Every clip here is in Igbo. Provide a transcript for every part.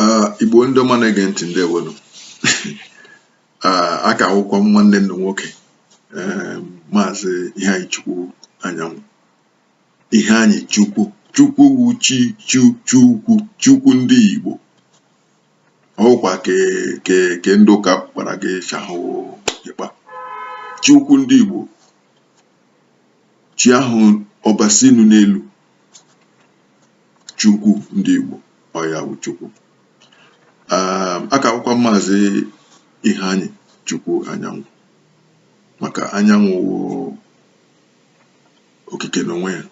Ah, igbo ndị ọma na-ege ntị ndeewonu ah, a ka wụkwa m nwanne unu nwoke eh, maazị Iheanyịchukwu Anyanwụ Iheanyịchukwu chukwu wu chi chu chukwu chukwu ndị igbo ọkwa ke ke ke ndị ụka kpara gị chahụ ịkpa chukwu ndị igbo chi ahụ Ọbasi nọ n'elu chukwu ndị Igbo ọ ya wụ chukwu um, a ka wụkwa m maazị Iheanyịchukwu Anyanwụ maka anyanwụ okike n'onwe ya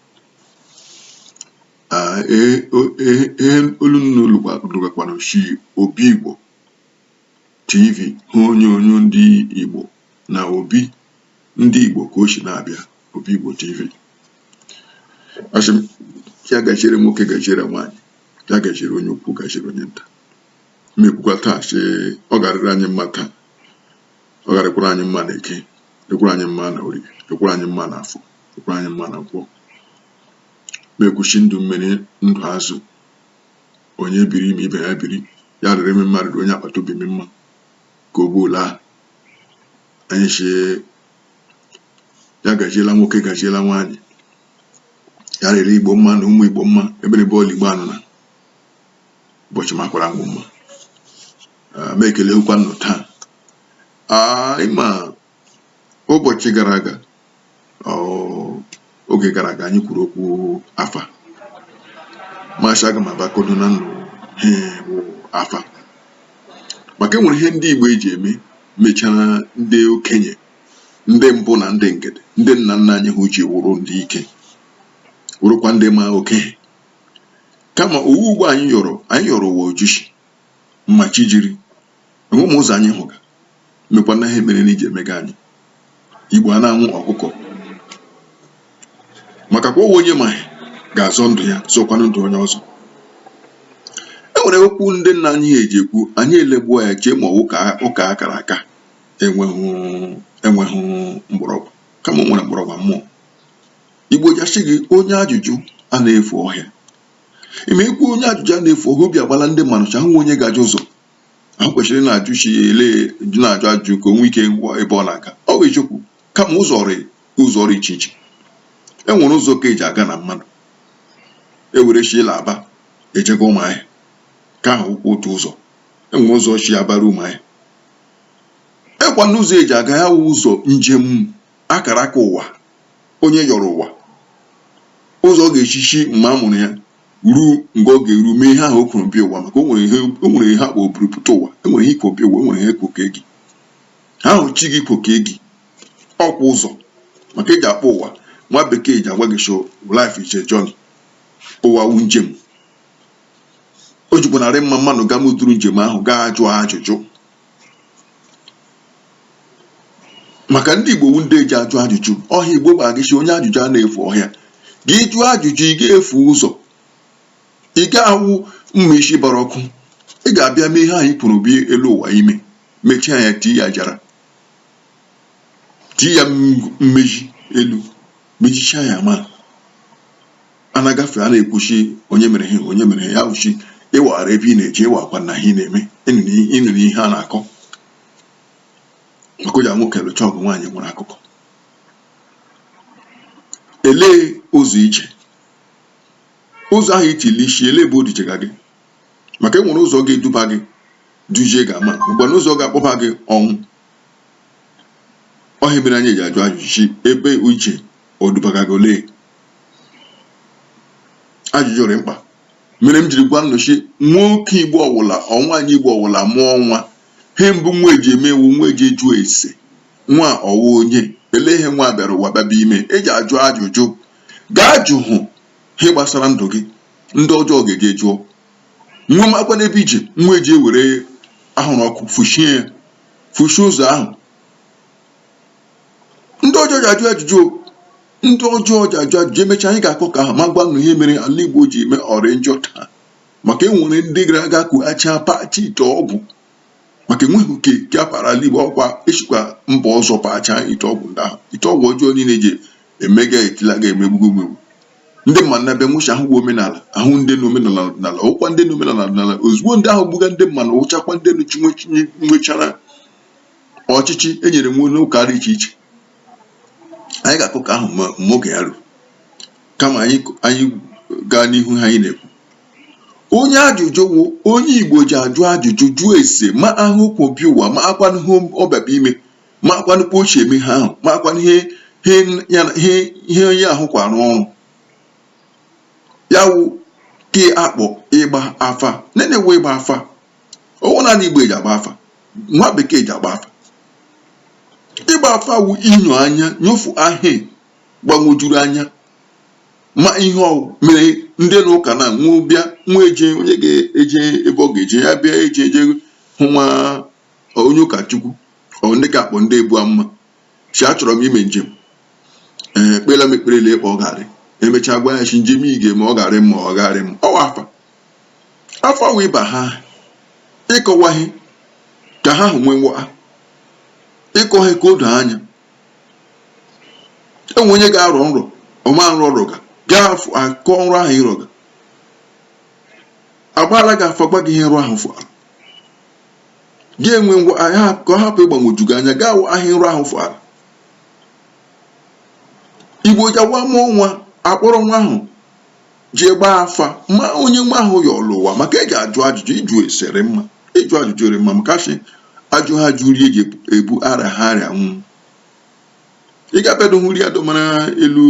ehe olu unu nụgakwanụ shi obi Igbo TV wụ onyonyo ndị Igbo na obi ndị Igbo ka o shi na-abịa obi Igbo TV asị m ya gajiere nwoke gajiere nwaanyị ya gajiere onye ukwu gajiere onye nta m ekwukwa taa sị ọ ga-arịrị anyị mma taa ọ ga-arịkwara anyị mma na eke rịkwara anyị mma na orie rịkwara anyị mma na afọ rịkwara anyị mma na nkwọ m ekwu shi ndụ mmiri ndụ azụ onye biri ma ibe ya biri ya rịrị m mma rịrị onye agbata obi m mma ka ọ bụla anyị si ya gajiela nwoke gajiela nwaanyị ya rịrị igbo mma na ụmụ igbo mma ebe ọ bụla igbo nọ na ụbọchị makwara ngwụ mma m ekelekwa unu taa ị ma ụbọchị gara aga oge gara aga anyị kwuru okwu afa m asị aga m abịa kọdụ unu ihe wụ afa maka enwere ihe ndị Igbo eji eme mechara ndị okenye ndị mbụ na ndị egede ndị nna nna anyị ha ji wụrụ ndị ike wụrụkwa ndị ma oke ihe kama ọ wụ ugbo anyị yọrọ anyị yọrọ ụwa ojishi mma chi jiri na ụmụ ụzọ anyị hụga mekwa na ihe mere na iji emega anyị igbo a na-anwụ ọkụkọ maka kwa onwe onye ma ihe ga-azọ ndụ ya zọkwanụ ndụ onye ọzọ e nwere okwu ndị nna anyị ji ekwu anyị elegbuo ya chee ma ọ wụ ụka akara aka enweghị mgbọrọgwụ kama o nwere mgbọrọgwụ mmụọ igbo ja-ashi gị onye ajụjụ a na-efu ọhịa ị ma ikwu onye ajụjụ a na-efu ọhịa obi agbala ndị mmadụ shi a hụ onye ga-ajụ ụzọ ha kwesịrị na-ajụ chi ya ele na-ajụ ajụ ka o nwee ike ngwa ebe ọ na-aga ọ bụ eziokwu kama ụzọ rị ụzọ ọ rị iche iche e nwere ụzọ ka eji aga na mmadụ ewere shi la Aba eji ga ụmụahịa ke ahụ wụkwa otu ụzọ e nwere ụzọ shi Aba ruo ụmụahịa e nwekwa ụzọ eji aga ya wụ ụzọ njem akara aka ụwa onye yọrọ ụwa ụzọ ọ ga-eshi shi mgbe a mụrụ ya ruo mgbe ọ ga-eru mee ihe ahụ o kwuru bịa ụwa maka o nwere ihe a kpọ oburu pụta ụwa e nwere ihe i kwo bịa ụwa e nwere ihe e kwo kee gị ahụ chi gị kwo kee gị ọkwa ụzọ maka eji akpọ ụwa nwa bekee ji agwa gị sị life is a journey ụwa wu njem o jikwanụ arị mma mmadụ gaa mụtụrụ njem ahụ gaa jụọ ajụjụ maka ndị Igbo wu ndị ji ajụ ajụjụ ọ hịa Igbo gwa gị sị onye ajụjụ a na-efu ọhịa gị jụọ ajụjụ ị ga-efu ụzọ ị ga-awụ mma isi bara ọkụ ị ga-abịa mee ihe anyị kwuru bịa elu ụwa ime mechaa ya tii ya jara tii ya mmezi elu mejichaa ya ma a na-agafe a na-ekwu sị onye mere ihe onye mere ya wụ sị ị maara ebe ị na-eje ị makwanụ ihe ị na-eme ị nụrụ ihe a na-akọ maka o ji nwoke lụcha ọgụ nwaanyị nwere akụkọ elee ụzọ i je ụzọ ahụ i tiri isi elee ebe o dujega gị maka enwere ụzọ ga-eduba gị dujie gị ama mgbe na ụzọ ga-akpọba gị ọnwụ ọ hịa mere anyị ji ajụ ajụjụ ebe i je o dubaga gị olee ajụjụ dị mkpa mere m jiri gwa nụ sị nwoke igbo ọwụla nwaanyị igbo ọwụla mụọ nwa he mbụ nwa eji eme wụ nwa eji ajụ ese nwa ọ wụ onye elee ihe nwa bịara ụwa bịaba ime eji ajụ ajụjụ gaa jụ hụ ihe gbasara ndụ gị ndị ọjọọ ga-eje jụọ nwa makwanụ ebe i je nwa eji ewere ahụrụ ọkụ fuchie ya fuchie ụzọ ahụ ndị ọjọọ ji ajụ ajụjụ o. ndị ọjọọ ji ajụ ajụjụ emecha anyị ga-akọ ka ahụ ma gwa nụ ihe mere ala igbo ji eme ọ rị njọ taa maka enwere ndị gara aga kughacha pata ite ọgwụ maka enweghị nke a para ala igbo ọkwa e sikwa mba ọzọ pacha ite ọgwụ ndị ahụ ite ọgwụ ọjọọ niile ji eme ga etila ga emegbugo omegbu ndị mmadụ na-abịa nwụcha ahụ bụ omenala ahụ ndị na omenala ọdịnala wụkwa ndị na omenala ọdịnala ozugbo ndị ahụ gbuga ndị mmadụ wụchakwa ndị na chinwe nwechara ọchịchị e nyere nwe n'ụka dị iche iche anyị ga-akọ ka ahụ mgbe oge ya ruru kama anyị gaa n'ihu ha anyị na-ekwu onye ajụjụ wụ onye igbo ji ajụ ajụjụ jụọ ese ma he o kwo bịa ụwa makwanụ ihe ọ bịaba ime makwanụ kpa o si eme ha ahụ makwanụ ihe onye ahụ kwara ọrụ ya wụ ke a kpọ ịgba afa nene wee ịgba afa ọwụ naanị igbo eji agba afa nwa bekee ji agba afa ịgba afa wụ inyo anya nyofu ihe gbanwojuru anya ma ihe ọwụ mere ndị na ụka na nwụ bịa nwa eje onye ga-eje ebe ọ ga-eje ya bịa eje eje hụ nwa onye ụkọchukwu or ndị ka akpọ ndị ebu amụma si achọrọ m ime njem ee kpeela m ekpere lee kpa ọ garị emechaa gwa ya si njem ị ga ma ọ garị mma ọ garị mma ọwụ afa afa wụ iba ha ịkọwa ihe ka ha hụ nwenwe ha ịkọ ihe ka o doo anya enwe onye ga-arọ nrọ ọma nrọ ọ rọga gaa akọ nrọ ahụ ị rọga agbaala gị afa gwa gị ihe nrọ ahụ fụara gị enwe ngwa ahịa ka ọ hapụ ịgbanwoju gị anya gaa wụ ihe nrọ ahụ fụara igbo jawa mụọ nwa akpọrọ nwa ahụ jee gbaa afa ma onye nwa ahụ yọlụ ụwa maka eji ajụ ajụjụ ịjụ ese rị mma ịjụ ajụjụ rị mma maka shi ajụha ajụ rie ji ebu arịaha arịa nwụ ị ga-abịado hụ iri adọmara elu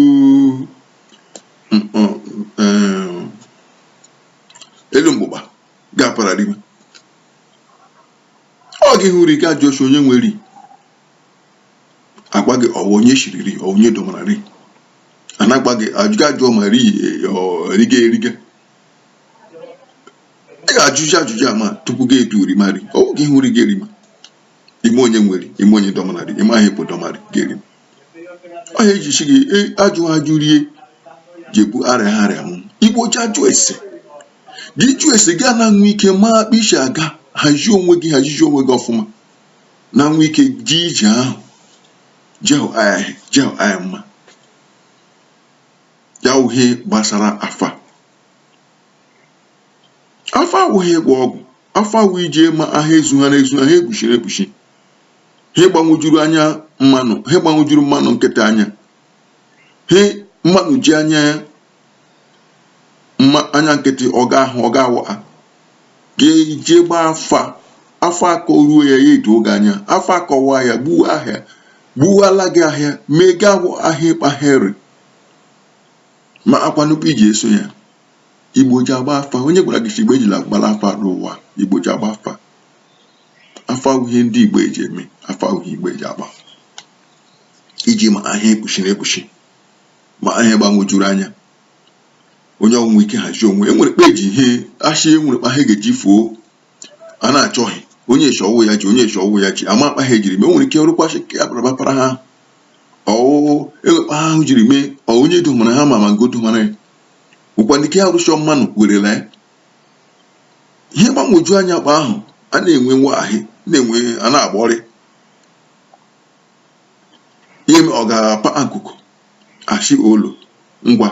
mm, mm, eh, elu mgbụgba gị apara rima ọ gị hụ iri gị ajụọ shi onye nwe iri agwa gị ọwụ onye shiri iri onye dọmara iri a na-agwa gị ajụjụ ajụọ ma ri eriga eriga ị ga-ajụjụ ajụjụ a ma tupu gị etu erima iri ọwụ gị hụ iri gị erima ime onye nwe iri ime onye dọmara iri ime ahụ ịpụ dọmarị gị erima ọ ihe eji si gị e, ajụ ajụ rie ji ebu arịaha arịa nwụ igbo ji ajụ ese gị jụ ese gị ana-enwe ike ma kpa isi aga hazie onwe gị hazizi onwe gị ọfụma na nwe ike ji ije ahụ jehụ anyị mma ya wụ ihe gbasara afa afa awụghị ịgwọ ọgwụ afa wụ iji ịma ihe ezuha na-ezuha ihe ekpuchiri ekpuchi ihe gbanwejuru anya mmanụ ihe gbanwejuru mmanụ nkịtị anya ihe mmanụ ji anya mma anya nkịtị ọ ga ahụ ọ ga awa gị jee gbaa afa afa akọ ruo ya ya edo gị anya afa akọwa ya gbuwa ihe gbuwala gị ihe mee gị awụ ihe ịkpahịrị ma akwanụkwa iji eso ya igbo ji agba afa onye gwara gị si igbo ejila gbara afa n'ụwa igbo ji agba afa afa wụ ihe ndị igbo eji eme afa wụ ihe igbo eji agba iji ma ihe ekpuchi na ekpuchi ma ihe gbagwojuru anya onye o nwe ike hazie onwe enwere kpa e ji ihe achị enwere kpa ihe ga-eji fuo a na-achọghị onye e shi ọwụ ya ji onye e shi ọwụ ya ji ama kpa ihe jiri mee nwere ike rụkwasị ka ya barabapara ha ọwụwụ e nwe kpa ihe ahụ jiri mee ọ onye domara ha ma ma ngo domara ya ụkwa ndị ke ya rụchọ mmanụ werela ya ihe gbagwoju anya kpa ahụ a na-enwe nwa ahị na-enwe a na-agba ọrịa ihe m ọ ga-apa akụkụ achị olu ngwa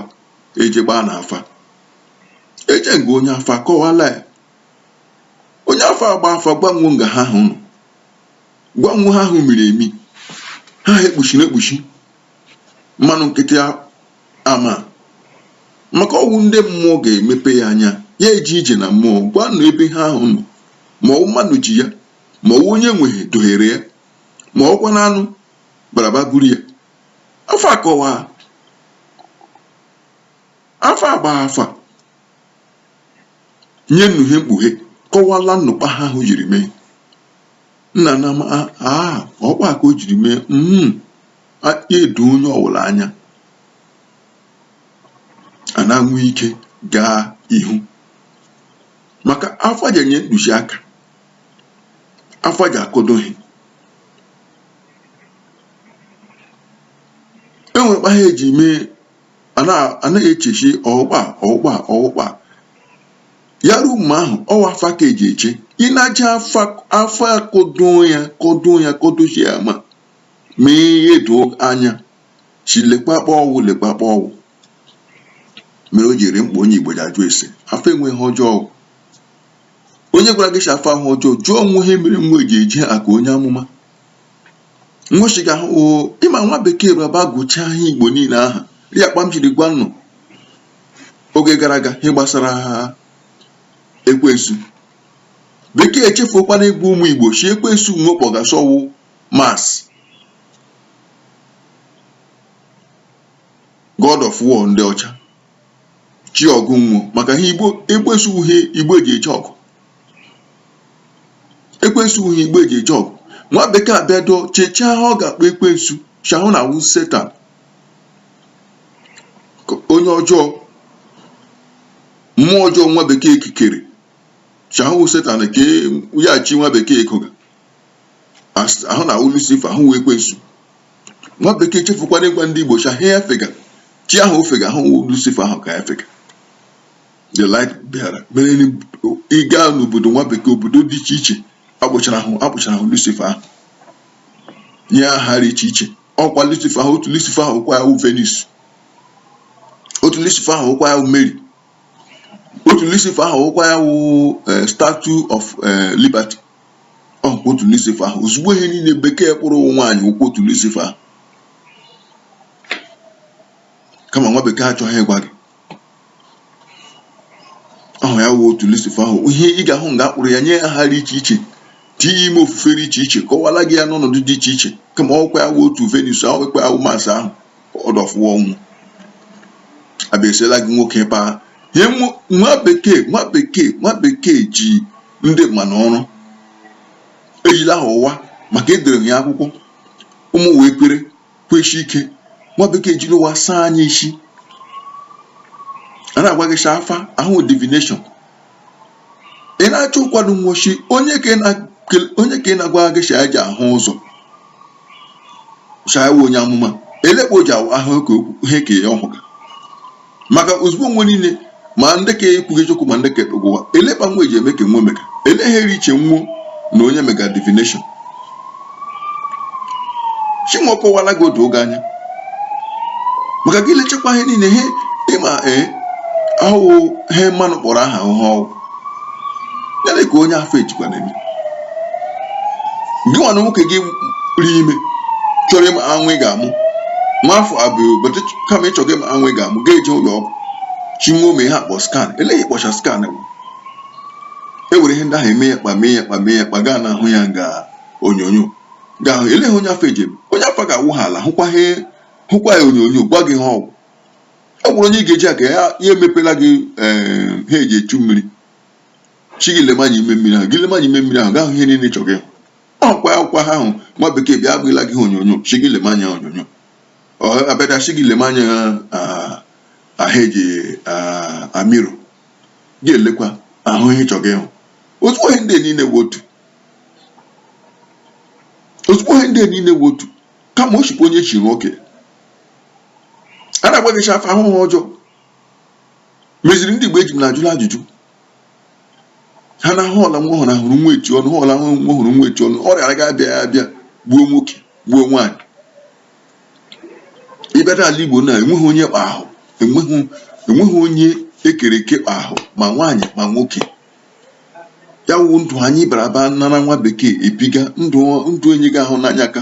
eje gbaa na afa eje nga onye afa kọwala ya onye afa agba afa gwa nwo nga ihe ahụ nọ gwa nwo ihe ahụ miri emi ihe e kpuchiri ekpuchi mmanụ nkịtị a- ama maka ọwụ ndị mmụọ ga-emepe ya anya ya eji ije na mmụọ gwanụ ebe ihe ahụ nọ ma ọwụ mmadụ ji ya ma ọwụ onye nwe ihe dohiere ya ma ọkwa na anụ baraba buru ya afa akọwa afa agba afa nye nnu ihe mkpughe kọwala nnu kpa ihe ahụ jiri mee nna na ama aa ọkwa ka o jiri mee mm edo onye ọwụla anya a na-enwe ike gaa ihu maka afa ji enye ntụzi aka afa ji akọdo ihe e nwe kpa ihe ji eme a na-eche shi ọwụ kpa ọwụ kpa ọwụ kpa ya ruo mgbe ahụ ọwụ afa ka eji eche ị na-aja afa akọdo ya kọdo ya kọdochi ya ma mee ihe doo anya si le kpa kpa ọwụ le kpa kpa ọwụ mere o jiri mkpa onye Igbo ji ajụ ese afa enweghị ọjọọ onye gwara gị shi afa ahụ ọjọọ jụọ nwo ihe mere nwo ji eje aka onye amụma nwo shiga ahụ oo ịma nwa bekee bịa agụchaa ihe igbo niile aha ya kpa m jiri gwa nnụ oge gara aga ihe gbasara ekwensu bekee echefuokwana ịgwa ụmụ igbo shi ekwensu nwo kpọga shi ọwụ mars god of war ndị ọcha chi ọgụ nwo maka ihe igbo ekwensu wụ ihe igbo ji eje ọgụ ekwensu wụ ihe igbo ji eje ọgụ nwa bekee abịa dụọ chechaa ihe ọ ga-akpọ ekwensu shi ihe ahụ na awụ setan onye ọjọọ mmụọ ọjọọ nwa bekee kikere shi ọwụ setan ka ya shi nwa bekee koga ahụ na awụ lucifer ahụ wụ ekwensu nwa bekee chefukwana ịgwa ndị Igbo shị ihe ya fega chi ahụ ọ fega ahụ Lucifer ahụ ka ya fega the light bearer ị gaa n'obodo nwa bekee obodo dị iche iche akpụchara ahụ Lucifer ahụ nye aha dị iche iche ọ wụkwa Lucifer ahụ otu Lucifer ahụ wụkwa ya wụ Venus otu Lucifer ahụ wụkwa ya wụ Mary otu Lucifer ahụ wụkwa ya wụ eh, statue of eh, liberty Ọ wụkwa otu Lucifa ahụ. Ozugbo ihe niile bekee kpụrụ wụ nwaanyị wụkwa otu Lucifa ahụ. Kama nwa bekee achọghị ịgwa gị. Ọ wụ ya wụ otu Lucifa ahụ. Ihe ị ga-ahụ nga a kpụrụ ya nye aha dị iche iche tinye ime ofufe dị iche iche kọwala gị ya n'ọnọdụ dị iche iche kama ọ wụkwa ya wụ otu Venus ahụ wụkwa ya wụ Mars ahụ ọdọfụwa ọnwụ abịasiela gị nwoke ebe a ihe nwa bekee nwa bekee nwa bekee ji ndị mmanụ ọrụ ejila ha ụwa maka edere ya akwụkwọ ụmụ wee kwere kweshi ike nwa bekee jiri ụwa saa anyị ishi a na-agwa gị shị afa ahụ divination ị na-achọ ụkwado nwochi onye ka ị na-agwa gị sha ji ahụ ụzọ sha onye amụma elekpa o ji awa ahụ ihe ka ya ọ hụga maka ozugbo nwe niile ma ndị ka kwuga eziokwu ma ndị ka kpuga ụwa elekpa nwa eji eme ka nwe mega ele ihe dị iche nwuo na onye mega divination shị nwe kọwala gị odo oge anya maka gị lechekwa ihe niile ihe ịma ee ahụhụ ihe mmanụ kpọrọ aha ahụhụ ọgwụ ya dị ka onye afa ejikwa na-eme gị nwa na nwoke gị ri ime chọrọ ịma nwa ị ga-amụ nwa afọ abụọ ụbọchị kama ị chọga ịma nwa ị ga-amụ ga-eje ụlọ ọgwụ shị nwe mee ihe a kpọ skan eleghị kpọcha skan bụ e were ihe ndị ahụ eme ya kpa mee ya kpa mee ya kpa gaa na ahụ ya nga onyonyo ga-ahụ ele ha onye afa eji ebu onye afa ga-awụ ha ala hụkwa ha hụkwa ya onyonyo gwa gị ihe ọ wụ ọ wụrụ onye ị ga-eji aka ya ya emepela gị ee ha eji echu mmiri shị gị lema anya ime mmiri ahụ gị lema anya ime mmiri ahụ ga-ahụ ihe niile ị chọrọ ịhụ ọkwa akwụkwọ ha ahụ nwa bekee bịa agụla gị ha onyonyo shị gị lema anya onyonyo ọ abịacha shị gị lema anya ah, ahụ eji ah, mirror gị elekwa ahụ ihe ị chọrọ ịhụ ozugbo ihe ndị niile wụ otu ozugbo ihe ndị a niile wụ otu kama o chikwa onye chiri nwoke a na-agwa gị shị afa wụ ihe ọjọọ meziri ndị Igbo eji m na-ajụla ajụjụ ha na họla nwa ọhụrụ ahụrụ nwa eti ọnụ họla nwa ọhụrụ nwa eti ọnụ ọrịa ga-abịa ya abịa gbuo nwoke gbuo nwaanyị ị bịadụ ala Igbo na enweghị onye kpa ahụ enweghị enweghị onye e kere eke kpa ahụ ma nwaanyị ma nwoke ya wụ ndụ anyị bara aba nara nwa bekee ebiga ndụ enyi gị ahụ n'anya ka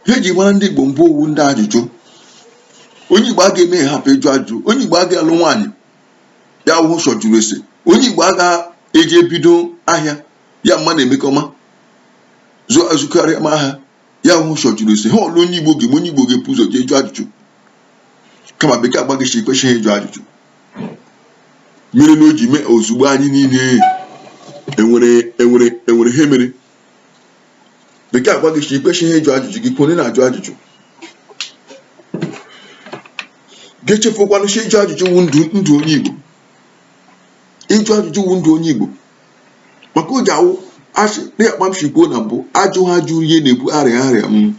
ihe eji mara ndị Igbo mbụ ọ wụ ndị ajụjụ onye Igbo aga eme ihe hapụ ịjụ ajụjụ onye Igbo aga alụ nwaanyị ya wụ ụzọ jụrụ ese onye Igbo aga eji ebido ahịa ya mma na-emekọma zụkarịa ma ahịa ya wụ ụzọ jụrụ ese ha ọlụ onye igbo ga-eme onye igbo ga-ebu ụzọ jee jụọ ajụjụ kama bekee agwa gị si ikwesịghị ịjụ ajụjụ mere na o ji mee ozugbo anyị niile enwere ihe mere bekee agwa gị si ikwesịghị ịjụ ajụjụ gị kwuo onye na-ajụ ajụjụ gị chefukwanụ si ịjụ ajụjụ wụ ndụ onye igbo ịjụ ajụjụ wụ ndụ onye igbo maka o ji awụ asị dịka kpa m si kwuo na mbụ ajụha ajụ rie na-ebu arịa arịa m mm.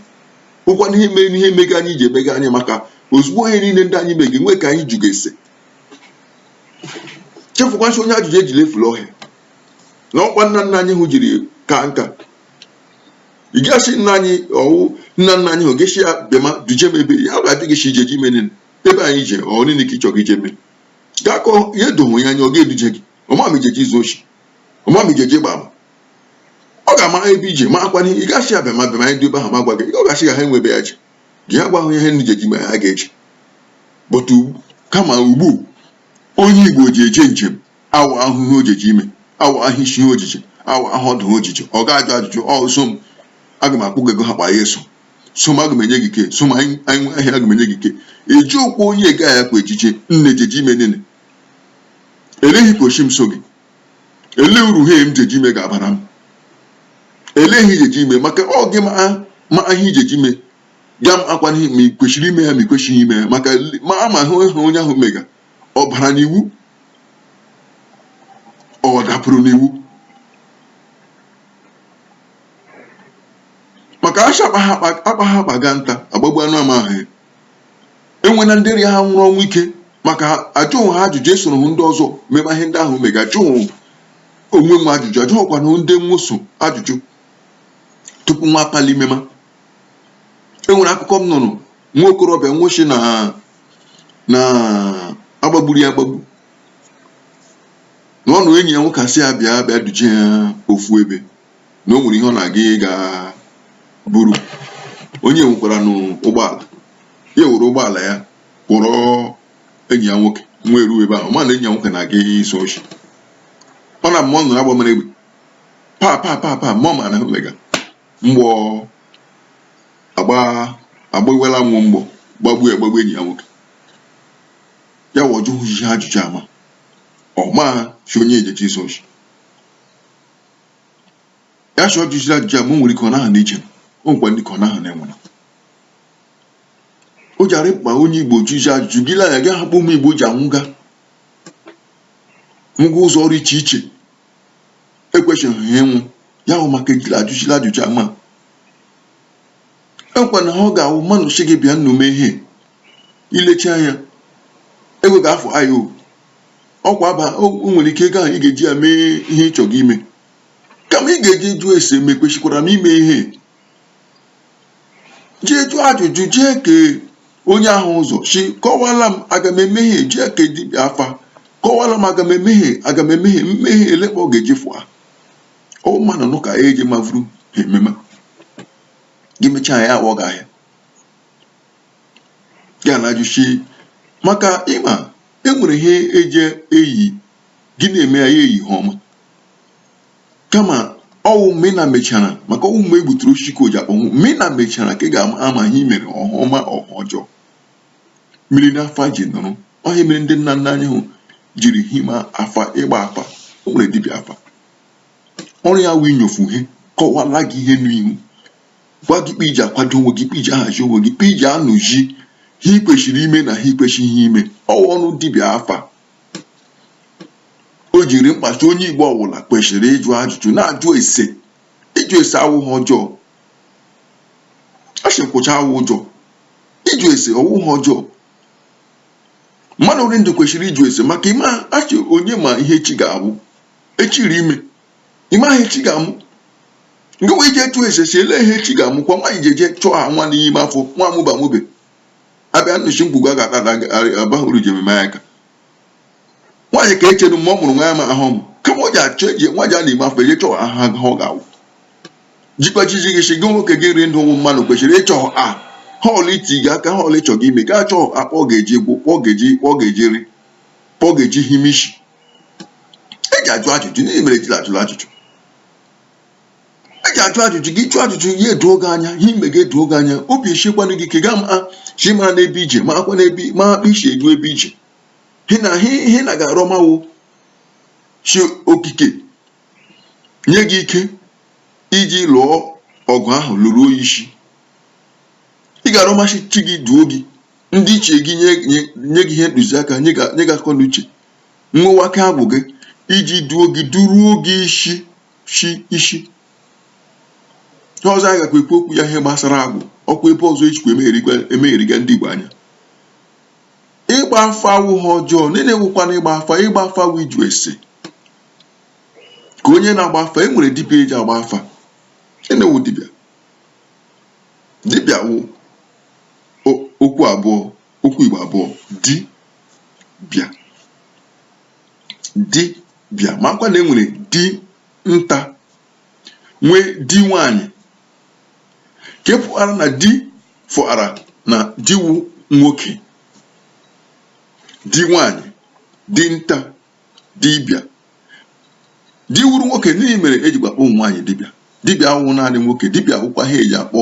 ọkwa na ihe mere na ihe mega anyị ji emega anyị maka ozugbo ihe niile ndị anyị mege nwee ka anyị jụga ese chefukwa si onye ajụjụ ejila efula ọhịa na ọkwa nna nna anyị hụ jiri ka nka ị gasị nna anyị ọwụ nna nna anyị hụ ga-asị ya bịama duje m ebe ya ga-adị gị si ije ji ebe anyị je ọ niile ka ịchọga ije mee gaa kọọ ihe dohụ ya anya ọ ga-eduje gị ọ ma ma ijeji izu oshi ọ ma ma ijeji ịgba ama ọ ga-amara ebe ije makwa ihe ị gachi abịa ma bịa ma ndị ebe ahụ ma gwa gị ọ gachi ga ha enwebe ya ji gị ya gwa ahụ ihe ndị jeji ma ha ga-eji bụtụ kama ugbu onye igbo ji eje njem amahụ ihe ojeji ime amahụ isi ihe ojeji amahụ ọdụ ojeji ọ ga-ajụ ajụjụ ọ so m aga m akwụ gị ego ha kpa ya eso so m aga m enye gị ike so m anyị nwe ahịa aga m enye gị ike eji okwu onye ga ya kwa ejije nne jeji ime nene Ele ihe koshi m so gị? Ele uru ihe m jeji ime ga-abara m? Ele ihe ijeji ime maka ọ gị ma ma ihe ijeji ime ga-amakwa ma ị kwesịrị ime ya ma ị kwesịghị ime ya maka ma amahụ ihe onye ahụ mega ọ bara n'iwu ọ dapụrụ n'iwu maka ashị akpaha akpa ga nta agbagbu anụ amahụ ya enwe na ndị ha nwụrụ ọnwụ ike maka ajụghị ha ajụjụ esoro ndị ọzọ mema ihe ndị ahụ mega ajụghị onwe nwo ajụjụ ajụghịkwanụ ndị nwo so ajụjụ tupu nwo akpali mema enwere akụkọ m nụrụ nwa okorobịa nwo shi na agbagburu ya agbagbu na ọ wụ enyi ya nwoke asị ya bịa bịa duje ya ofu ebe na o nwere ihe ọ na-aga ịga buru onye nwekwara n'ụgbọala ya were ụgbọala ya kpọrọ enyi ya nwoke wee ruo ebe ahụ ma na enyi ya nwoke na-aga izu oshi ọ na mma ọ nụrụ agba mere egbe pa pa pa pa ma ọ ma na o mega mgbọ agbawela nwụ mgbọ gbagbu ya gbagbu enyi ya nwoke ya wụ ọ jụghị ihe ajụjụ ama ọ ma si onye ejechi izu oshi ya sị ọ jụjiri ajụjụ a ma o nwere ike ọ naghị na-eje o nwekwa ike ọ naghị na-anwụ ihe o ji arị mkpa onye igbo jụọ ajụjụ gị lee anya gị hụ kpa ụmụ igbo ji anwụga nwụga ụzọ rị iche iche ekwesịghị ha ịnwụ ya wụ maka ejila ajụjiri ajụjụ a ma o nwekwanụ ihe ọ ga-awụ mmanụ si gị bịanụ mee ihe i lecha anya ego ga-afụ ya o ọkwa aba o o nwere ike ego ahụ ị ga-eji ya mee ihe ị chọrọ ime kama ị ga-eje jụọ ese ma ekwesikwara m ime ihe jee jụọ ajụjụ jee kee onye ọhụ ụzọ si kọwala m aga m eme ihe jee kee dibịa afa kọwala m aga m eme ihe aga m eme ihe m mee ihe ele kpa ọ ga-eji fụa ọ mmadụ nụ ka eji mavuru ihe mema gị mechaa ya aghọ gị ahịa ya na ajụsi maka ịma e nwere ihe eje eyi gị na-eme ya ya eyi ihe ọma kama ọwụ mgbe ị na mechara maka ọwụ mgbe e gbuturu osisi ka o ji akpọnwụ mgbe ị na mechara ka ị ga-ama ihe i mere ọ ihe ọma ọ ihe ọjọọ mmiri n'afọ a ji nụrụ ọ ihe a mere ndị nna nna anyị ha jiri hima afa ịgba afa o nwere dibịa afa ọrụ ya wụ inyofu ihe kọwala gị ihe n'ihu gwa gị kpa i ji akwado onwe gị kpa i ji ahazi onwe gị kpa i ji anụzi ihe i kwesịrị ime na ihe i kwesịghị ime ọ wụ ọrụ dibịa afa o ji rị mkpa si onye igbo ọbụla kwesịrị ịjụ ajụjụ na-ajụ ese ịjụ ese awụghị ọjọọ a sị nkwụcha awụ ụjọ ịjụ ese ọwụghị ọjọọ mmadụ rị ndụ kwesịrị ịjụ ese maka ịma a sị onye ma ihe echi ga-awụ echi rị ime ị maghị ihe echi ga-amụ nke wee jee jụọ ese si ele ihe echi ga-amụ kwa nwaanyị jeje chọọ ha nwa n'ime afọ nwa amụba mụbe abịa nnụchi mkpugbu a ga-ata ada abaghị uru ji ememe aka nwaanyị ka echenu mgbe ọ mụrụ nwa ya ma ahụ mụ kama o ji achọ eji nwa ji a na-ime afọ eje chọọ aha ha ọ ga-awụ jikwachizi gị si gị nwoke gị rị ndụ ụmụ mmadụ kwesịrị ịchọ ihe ọwụla iti gị aka ihe ọwụla ịchọ gị ime gaa chọọ kpa ọ ga-eji gwụ kpa ọ ga-eji kpa ọ ga-eji rị kpa ọ ga-eji himishi e ji ajụ ajụjụ gịnị mere ejila ajụla ajụjụ e ji ajụ ajụjụ gị jụọ ajụjụ ya edoo gị anya ihe eme gị edoo gị anya obi esikwana gị ike gaa ma chi mara n'ebe i je makwa n'ebe ma kpa i si eru ebe i je hị na hị na ga-arọma wụ chi okike nye gị ike iji lụọ ọgụ ahụ lụruo ya isi ị ga-arọma sị chi gị duo gị ndị ichie gị nye gị ihe ntụziaka nye gị akọ na uche nwewake agwụ gị iji duo gị duruo gị isi shi isi ihe ọzọ a gakwa ekwu okwu ya ihe gbasara agwụ ọkwa ebe ọzọ ejikwa emegharịga ndị Igbo anya ịgba afa awụghị ihe ọjọọ gịnị wụkwanụ ịgba afa ịgba afa wụ ịjụ ese ka onye na-agba afa e nwere dibịa eji agba afa gịnị wụ dibịa dibịa wụ okwu abụọ okwu Igbo abụọ di bịa di bịa makwa na e nwere di nta nwee di nwanyị ke pụara na di fụara na di wụ nwoke di nwanyị di nta dibịa di wụrụ nwoke gịnị mere eji akpọ ụmụ nwaanyị dibịa dibịa awụ naanị nwoke dibịa wụkwa ihe eji akpọ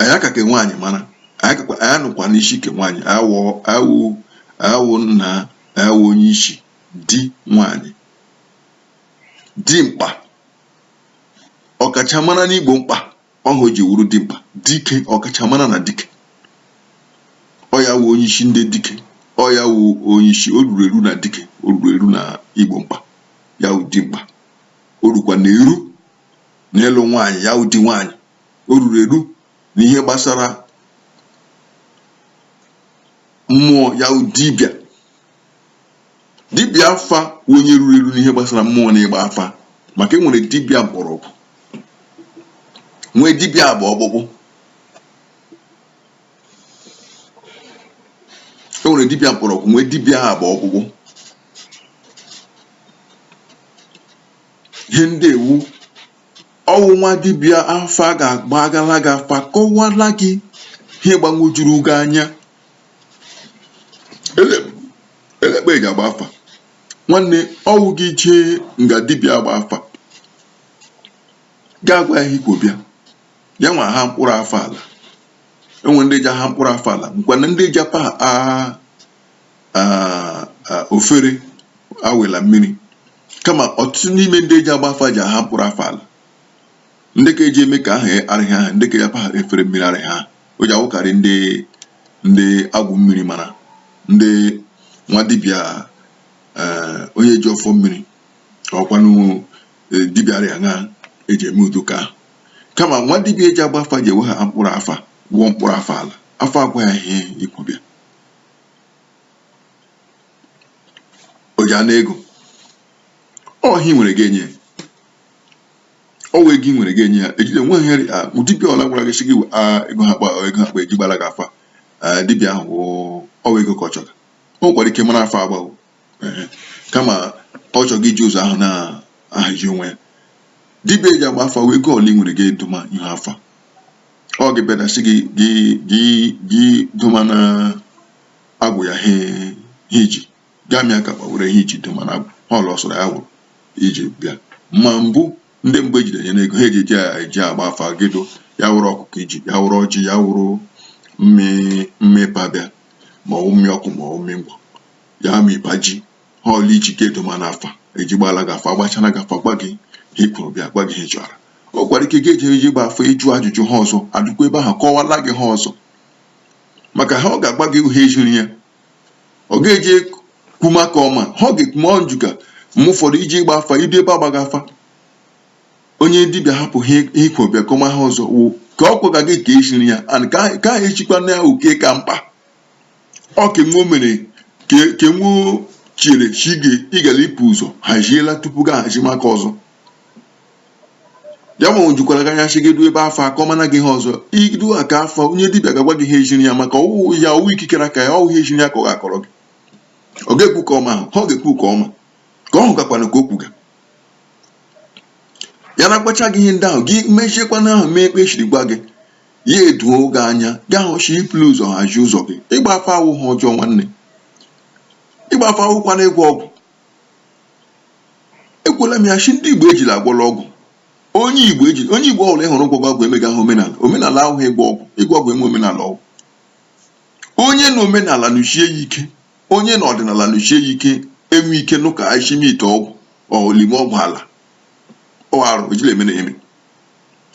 ọ ya ka ke nwaanyị mara ọ ya nọkwa n'isi ke nwaanyị ọ ya wụ nna ọ ya wụ onye isi di nwaanyị di mkpa ọkachamara n'igbo mkpa ọ ihe o ji wụrụ di mkpa dike ọkachamara na dike ọ ya wụ onye isi ndị dike ọ ya wụ onye isi o ruru eru na dike o ruru eru na igbo mkpa ya wụ di mkpa o rukwana eru n'ịlụ nwaanyị ya wụ di nwaanyị o ruru eru na ihe gbasara mmụọ ya wụ dibịa dibịa afa onye ruru eru n'ihe gbasara mmụọ na ịgba afa maka e nwere dibịa mgbọrọgwụ nwee dibịa agba ọkpụkpụ e nwere dibịa mkpọrọgwụ nwee dibịa agba ọkpụkpụ ihe ndị a wụ ọ wụ nwa dibịa afa ga-agbagala gị afa kọwala gị ihe gbanwojuru gị anya elee kpa e ji agba afa nwanne ọ wụ gị jee nga dibịa agba afa gaa gwa ya ihe i kwo bịa ya nwa ahaa mkpụrụ afa ala e nwere ndị ji aha mkpụrụ afa ala nwekwanụ ndị ji apa efere awela mmiri kama ọtụtụ n'ime ndị eji agba afa ji aha mkpụrụ afa ala ndị ka eji eme ka aha arịghị aha ndị ka ya paha efere mmiri arịghị ha o ji awụkarị ndị ndị agwụ mmiri mara ndị nwa dibịa eh, onye ji ọfọ mmiri ọkwanụ eh, dibịa arịa ha eji eme udo ka kama nwa dibịa eji agba afa ji ewe ha mkpụrụ afa wụọ mkpụrụ afa ala afa agwa ya ihe i kwo bịa o ji ana ego ọ ihe i nwere gị enye ya ọ wụ ego i nwere gị enye ya ejide nwe ihe dibịa ọla gwara gị sị gị ego ha kpa ego ha kpa eji gbara gị afa dibịa ahụ ọ wụ ego ka ọ chọrọ o nwekwara ike mara afa agbawo kama ọ chọga iji ụzọ ahụ na-ahazi onwe ya dibịa eji agba afa wee ego ọla i nwere gị eduma ihe afa ọ gị bịadasị gị gị gị gị duma na agwụ ya he i ji gị amịa aka were ihe i ji duma na ihe ọla ọ sọrọ ya wụrụ i ji bịa ma mbụ ndị mgbe ejide nye n'ego ha eji eji agba afa gịdụ ya wụrụ ọkụkọ i ji ya wụrụ ọjị ya wụrụ mmị ị pa bịa ma ọ mmị ọkụ ma ọ mmị ngwọ ya ma ịba ji ihe ọla i ji gị eduma n'afa eji gbala gị afa agbachana gị afa gwa gị ihe i kworo bịa gwa gị ihe ị chọrọ o nwekwara ike ga-eji eje ịgba afa ịjụ ajụjụ ihe ọzọ adụkwa ebe ahụ kọwala gị ihe ọzọ maka na ọ ga-agwa gị ihe e ziri ya ọ ga-eje kwuma ka ọ ma ihe ọ ga-ekwuma njuga mgbe ụfọdụ i je ịgba afa i du ebe agbaga afa onye dibịa ahapụ ihe i kwo bịa kọma ihe ọzọ wụ ka ọ kọga gị ka e ziri ya and ka ka ha echikwa na ya oke ka mkpa ọ ka enwe o mere ka ka enwe o chere chi gị ị gara ịpụ ụzọ haziela tupu gị ahazima ka ọzọ ya nwanne ejukwala gị anya sị gị du ebe afa akọmana gị ihe ọzọ i du aka afa onye dibịa ga-agwa gị ihe e ziri ya maka ọ wụ ya ọ wụ ikikere aka ya ọ wụ ihe e ziri ya ka ọ ga-akọrọ gị ọ ga-ekwu ka ọma ahụ ha ọ ga-ekwu ka ọma ka ọ hụkakwana ka o kwuga ya na-agwacha gị ihe ndị ahụ gị mechiekwana ahụ mee kpa e shiri gwa gị ya edoo gị anya gị ahụ chi ipụlụ ụzọ hazie ụzọ gị ịgba afa awụ ihe ọjọọ nwanne ịgba afa awụkwana ịgwọ ọgwụ ekwuola m ya shi ndị Igbo ejila agwọla ọgwụ onye Igbo ejila onye Igbo ọbụla ị hụrụ gwọga ọgwụ emegahụ omenala omenala awụghị ịgwọ ọgwụ ịgwọ ọgwụ enwe omenala ọgwụ onye na omenala nọsie ya ike onye na ọdịnala nọsie ya ike enwe ike nụ ka eshime ite ọgwụ elime ọgwụ ala ọ wụ arụ ejila eme na eme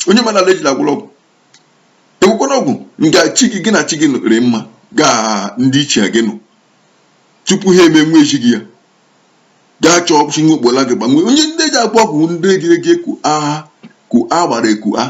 onye omenala ejila agwọla ọgwụ ekwekwana ọgwụ nga chi gị gị na chi gị nụrị mma gị na ndị ichie gị nụ tupu ha eme nwa echi gị ya gaa chọọ ọkpụchi nwa okpola gị gbanwee onye ndị ji agwọ ọgwụ ndị ejere je ku agha ku agbara eku a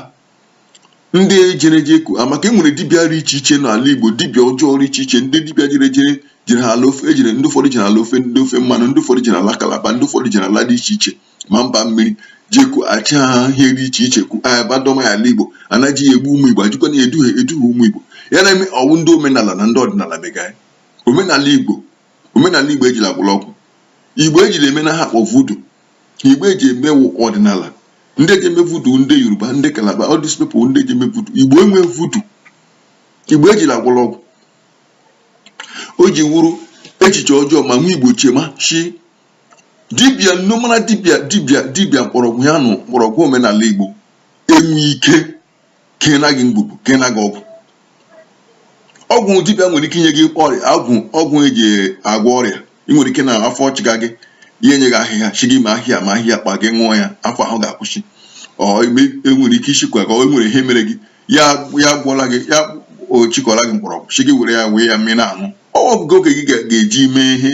ndị ejere je ku a maka e nwere dibịa dị iche iche n'ala Igbo dibịa ọjọọ dị iche iche ndị dibịa jere jere jere ha ala ofe ejere ndị ụfọdụ jere ala ofe ndị ofe mmanụ ndị ụfọdụ jere ala kalaba ndị ụfọdụ jere ala dị iche iche ma mba mmiri jeku achị ha ihe dị iche iche ku a bịa doma ya ala Igbo a na-eji ya egbu ụmụ Igbo ejikwana ya eduhie eduhie ụmụ Igbo ya na-eme ọ wụ ndị omenala na ndị ọdịnala mega ya omenala Igbo omenala Igbo ejila agwọla ọgwụ Igbo ejila emena ihe a kpọ vudu Igbo eji eme wụ ọdịnala ndị eji eme vudu ndị Yoruba ndị Kalaba all these people ndị eji eme vudu Igbo enwe vudu Igbo ejila agwọla ọgwụ o ji wụrụ echiche ọjọọ ma nwa Igbo chema shị dibịa nnụmara dibịa dibịa dibịa mkpọrọgwụ ya nụ mkpọrọgwụ omenala Igbo enwe ike keena gị ngwugwu keena gị ọgwụ ọgwụ dibịa nwere ike inye gị ọrịa ọgwụ ọgwụ eji agwọ ọrịa ị nwere ike na afọ ọchịga gị ya enye gị ahịhịa shị gị ma ahịhịa ma ahịhịa kpa gị ṅụọ ya afọ ahụ ga-akwụsị ọ enwere ike ị shịkwa ka o nwere ihe mere gị ya ya gwọla gị ya achịkọla gị mkpọrọgwụ shị gị were ya wee ya mmiri na-aṅụ ọ gwa gị oge gị ga-eji mee ihe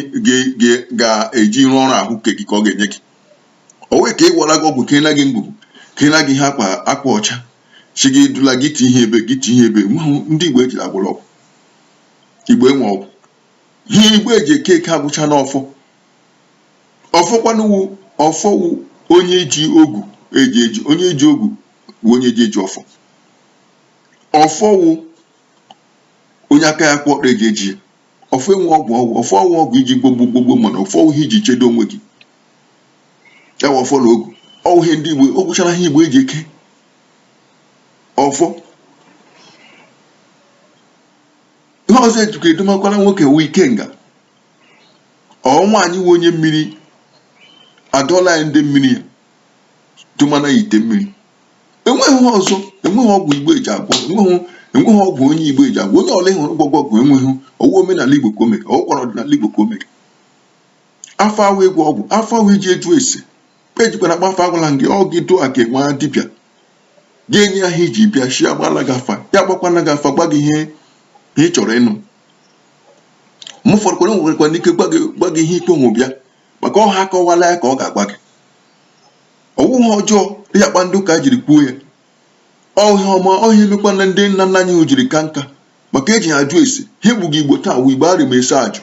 ga-eji rụọ ọrụ ahụike gị ka ọ ga-enye gị ọ wụ ka ị gwọla gị ọgwụ keena gị ngwugwu keena gị ihe akwa akwa ọcha shị gị dula gị ti ihe ebe gị ti ihe ebe mahụ ndị igbo ejila agwọla ọgwụ igbo enwe ọgwụ ihe igbo eji eke eke agwụcha n'ọfọ ọfọ kwanụ wụ ọfọ wụ onye ji ogu eji eji onye ji ogu wụ onye ji eji ọfọ ọfọ wụ onye aka ya kwụ ọtọ eji eji ya ọfọ enwe ọgwụ ọgwụ ọfọ awụ ọgwụ iji gbogbo gbogbo mana ọfọ ọ wụ ihe iji chedo onwe gị ọ wụ ọfọ na ogu ọ wụ ihe ndị igbo ọ gwụchara ihe igbo eji eke ọfọ ihe ọzọ ejikwa edomakwara nwoke wụ ikenga ọ nwaanyị wụ onye mmiri adọla ya ndị mmiri ya domana ya ite mmiri enweghị ọzọ enweghị ọgwụ igbo eji agwọ enweghị enweghị ọgwụ onye igbo eji agwọ onye ọla ị hụrụ gwọga ọgwụ enweghị ọ wụ omenala igbo ka o mere ọ wụkwara ọdịnala igbo ka o mere afa awụ ịgwọ ọgwụ afa wụ iji ejụ ese ejikwana agba afa agwala gị ọ gị dụọ ka nwa dibịa gị enye ya ihe iji bịa shị agbala gị afa ya agbakwana gị afa gwa gị ihe ị chọrọ ịnụ m ụfọdụ kwere nwekwara ike gwa gị ihe ikpe onwe bịa maka ọha akọwala ya ka ọ ga-agwa gị ọ wụghị ọjọọ dị ya kpa ndị ụka jiri kwuo ya ọ ihe ọma ọ ihe mekwana ndị nna nna anyị hụ jiri ka nka maka eji ha ajụ ese ihe egbuga igbo taa wụ igbo arị ma ese ajụ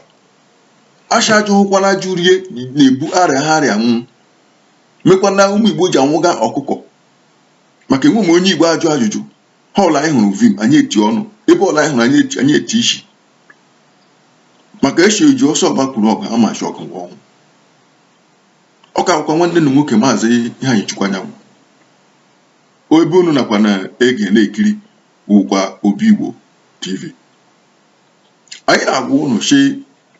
a shị ajụhụkwana ajụ rie na-ebu arịaha arịa nwụọ mekwana ụmụ igbo ji anwụga ọkụkọ maka enweghị onye igbo ajụ ajụjụ ihe ọla anyị hụrụ vim anyị eti ọnụ ebe ọla anyị hụrụ anyị eti anyị eti isi maka a sị oji ọsọ agbakwuru ọgụ ama shi ọgụ ọnwụ ọ ka wụkwa nwanne unu nwoke maazị iheanyịchukwu anyanwụ ebe unu nọkwa na-ege na-ekiri wụkwa obi igbo tv anyị na-agwa ụnụ si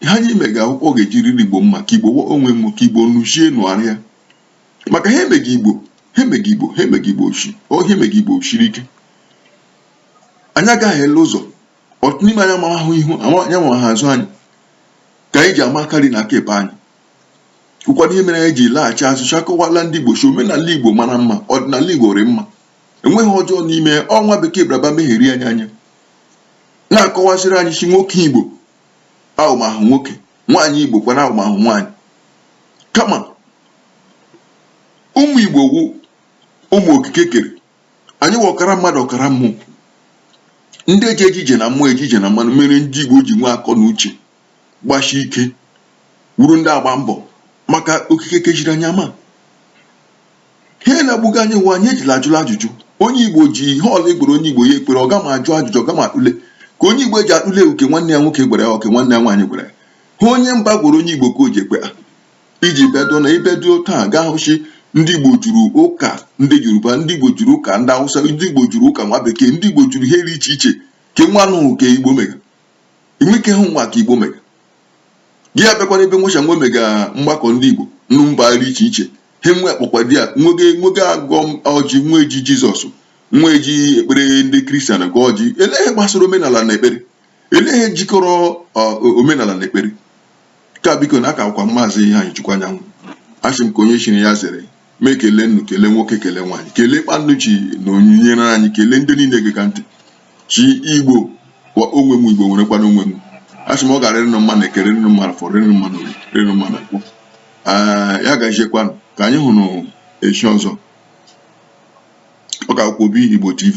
ihe anyị mega wụkwa ọ ga-eji rịrị igbo mma ka igbo nwe m ka igbo nuchie nụgharịa maka ihe emega igbo shiri ike anyị agahiela ụzọ ọtụtụ n'ime anyị amahụ ihu anyị amaghị azụ anyị ka anyị ji ama aka nri na aka ekpe anyị wụkwanụ ihe mere anyị ji laghachi azụ shi akọwala ndị Igbo si omenala Igbo mara mma ọdịnala Igbo rị mma enweghị ọjọọ rị n'ime ọ nwa bekee bịara bịa megheri anyị anya na-akọwasịrị anyị si nwoke Igbo awụmahụ nwoke nwaanyị Igbo kwana awụmahụ nwaanyị kama ụmụ Igbo wụ ụmụ okike kere anyị wụ ọkara mmadụ ọkara mmụọ ndị ji eje ije na mmụọ eje ije na mmadụ mere ndị Igbo ji nwee akọ na uche gbashi ike wụrụ ndị agba mbọ maka okike keziri anyị ma ihe na-egbuga anyị wụ anyị ejila ajụla ajụjụ onye igbo ji ihe ọla a gwara onye igbo ya ekwere ọ gama ajụ ajụjụ ọ gama akpụle ka onye igbo eji akpụle wụ ke nwanne ya nwoke gwara ya ọ ke nwanne ya nwaanyị gwara ya ihe onye mba gwara onye igbo ka o ji ekwe ha iji bedo na ibedo taa ga-ahụ shi ndị igbo juru ụka ndị yoruba ndị igbo juru ụka ndị awụsa ndị igbo juru ụka nwa bekee ndị igbo juru ihe dị iche iche ke nwa anụghị ka igbo mere enweke hụ nwa ka igbo mega gị abịakwanụ ebe nwecha nwe mega mgbakọ ndị igbo na mba rị iche iche he nwe akpọkwa di ya nwoke ga-agọ ọjị nwa eji jizọs nwa eji ekpere ndị kristian agọ ọjị ele ihe gbasara omenala na ekpere ele ihe jikọrọ omenala na ekpere ka biko nụ ọ ka wụkwa maazị iheanyịchukwu anyanwụ asị m ka onye chiri ya zere m ekele unu kele nwoke kele nwaanyị kele kpa unu shi nọnyere anyị kele ndị niile gega ntị shi igbo kwa nwe m igbo nwerekwana onwe m asị m ọ ga-arịrị ụnụ mma na eke rịrị ụnụ mma na afọ rị ụnụ mma na orie rị ụnụ mma na nkwọ ya gaziekwanụ ka anyị hụrụ echi ọzọ ọ ka wụkwa obi igbo tv